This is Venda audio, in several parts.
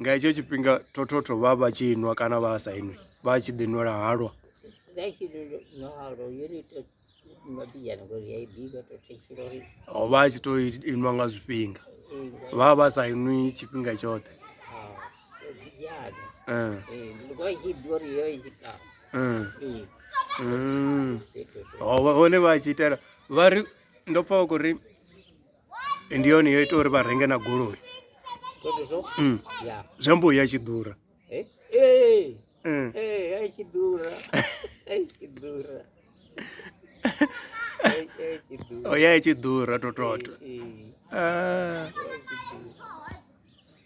Nga hetsho tshifhinga thothothotho vha vha tshi nwa kana vha sa inwi vha tshi ḓi nwela halwa. Ho vha a tshi to inwa nga zwifhinga vha vha vha sa inwi tshifhinga tshoṱhe. Hone vha tshi itela vha ri ndo pfha vha khou ri. ndi yone yo ita uri vha renge na goloi mm. zwi amba u ya tshi ḓura eh, eh. mm. eh, o ya i tshi ḓura tototo ah.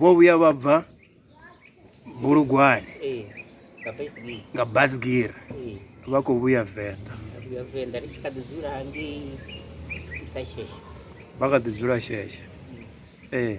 vho vhuya vha bva bulugwane eh, nga basgira eh. vha khou vhuya venḓa vha kha ḓi dzula sheshe ee eh.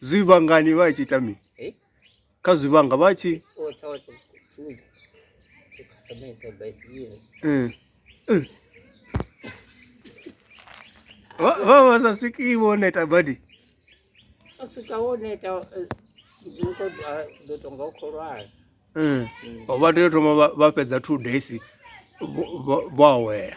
zwivhangani vha tshi ita mini eh? kha zwivhanga vha tshi eh. eh. vha vha sa swiki vho neta badi a swika vho neta ndo tonga u khou lwala mm. vha tea u thoma vha fhedza two days vho awela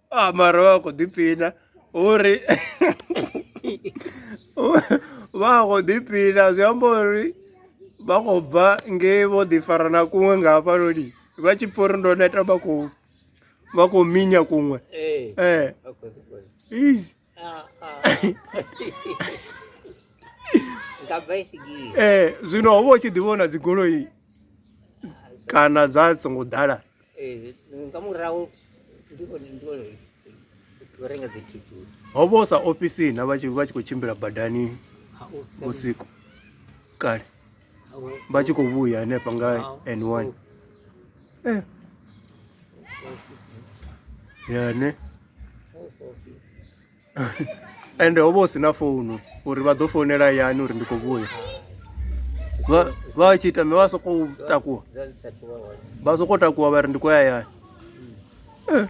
a ah, mara vha khou ḓipina uri vha khou ḓipina zwi amba uri vha khou bva ngei vho ḓifara na kuṅwe nga hafhanoni vha tshi pfha uri ndo neta vha khou vha khou minya kuṅwe ee eh. eh. nga baisigira eh zwino ho vha u tshi ḓi vhona dzigoloi kana dza songo ḓala eh nga murahu ndi vhone ndi vhone u renga dzi thithusi ho vha u sa ofisini vha tshi vha tshi khou tshimbila badani vhusiku kale vha tshi khou vhuya hanefha nga n one eh. yane ende ho vha hu si na founu uri vha ḓo founela yani uri ndi khou vhuya vha tshi ita me vha sokou takuwa vha sokou takuwa vha ri ndi khou ya yani eh.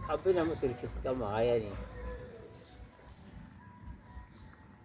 Apenas me oferecesse calma, aí, aí.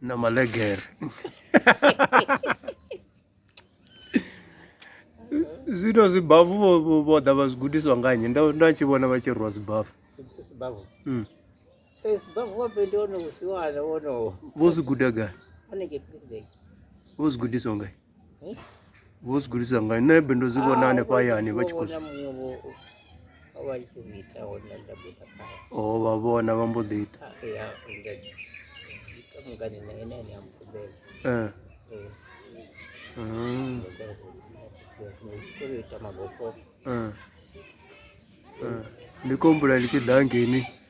na maleger zwino zwibafu vho ḓa vha zwi gudiswa nga nnyi nda tshi vhona vha tshi rwa zwibafu hmm. eh, vho zwi guda gai vho zwi gudiswa ngai Vho zwi gudisa nga nṋe be ndo zwi vhona ah, hanefha hayani vha tshi khou o oh, vha vhona vha mbo ḓi ita ah, ah. ndi kombula ndi tshi ḓa ngeni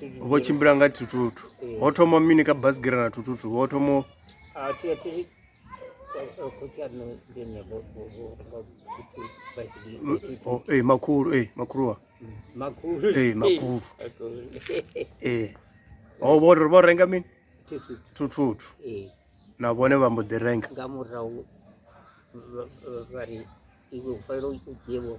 vho tshimbila nga thuthutu eh. ho thoma mini ka basigira na thuthutu ho thoma ah, eh, makhulu e eh, makhuluwa e makhulu e o vho ri vho renga mini thuthutu na vhone vha mbo ḓi renga nga murahu vha ri iwe u fanela u dzhievho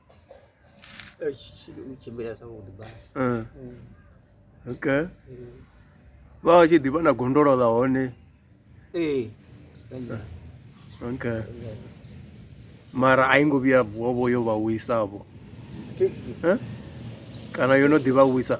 okay vha vha tshi ḓivha na gondolo ḽa hone ee okay mara a i ngo vhuya vuwa vho yo vha wisa vho kana yo no ḓivha wisa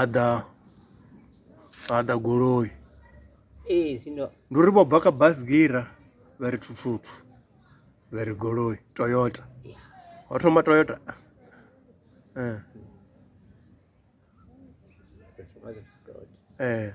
Aḓa aḓa goloi ndi uri vho bva kha basigira vha ri thuthutu vha ri goloi toyota ho thoma toyota ee eh. eh.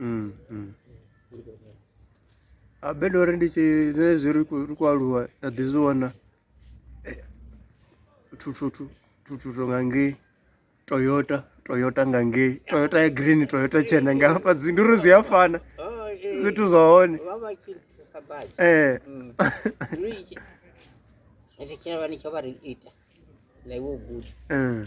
Mm, mm. Ah, bedo uri ndi tshi zwine zwi ri khou- ri khou aluwa nda ḓi zwi vhona eh, thuthutu thuthutu nga ngei toyota toyota nga ngei toyota ya green toyota tshena nga hafha dzi ndi uri zwi a fana zwithu zwa hone ee ri tshi vha ni tsho vha ri ita na iwe u guda Eh,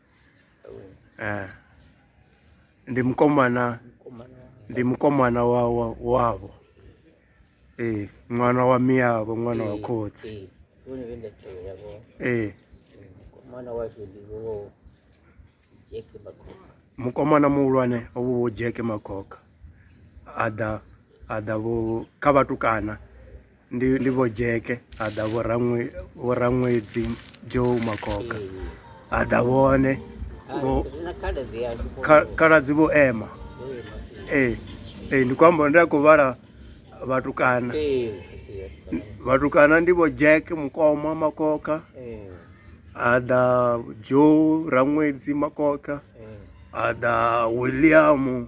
eh ndi mukomana ndi mukomana wa wavho ee ṅwana wa miyavho ṅwana wa khotsi ee mukomana muhulwane ovho vho jeke makhokha a ḓa a ḓa vho kha vhatukana ndi ndi vho jeke ha ḓa vho raṅwedzi joe makoka ha ḓa vhone khaladzi vho ema ee ee ndi khou amba ndi a khou vhala vhatukana vhatukana ndi vho jack mukoma makoka ha ḓa joe raṅwedzi makoka ha ḓa william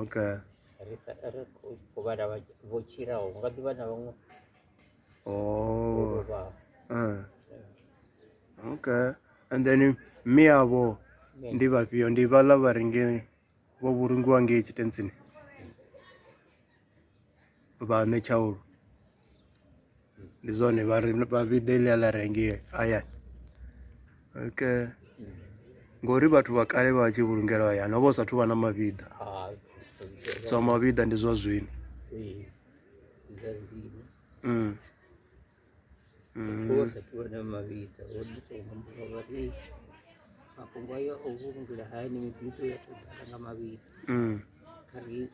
okay ri sa ri khou khou vhala vha tshi- vho tshilaho nga ḓivha na vhaṅwe vho oh lovhaho uh. okay and then mme avho ndi vhafhio ndi vhaḽa vha ringe vho vhulungiwa ngei tshitentsini vha nṋe tshaulu ndi zwone vha ri vha vhiḓe ḽi a ḽa rengee hayani ke ngori vhathu vha kale vha tshi vhulungela hayani ho vha hu sathu vha na mavhiḓa zwa mavhiḓa ndi zwa zwino mm. Mm. mafhungo ayo o vhulungela hayani mibiḓo ya tou ḓala nga mavhiḓa mm.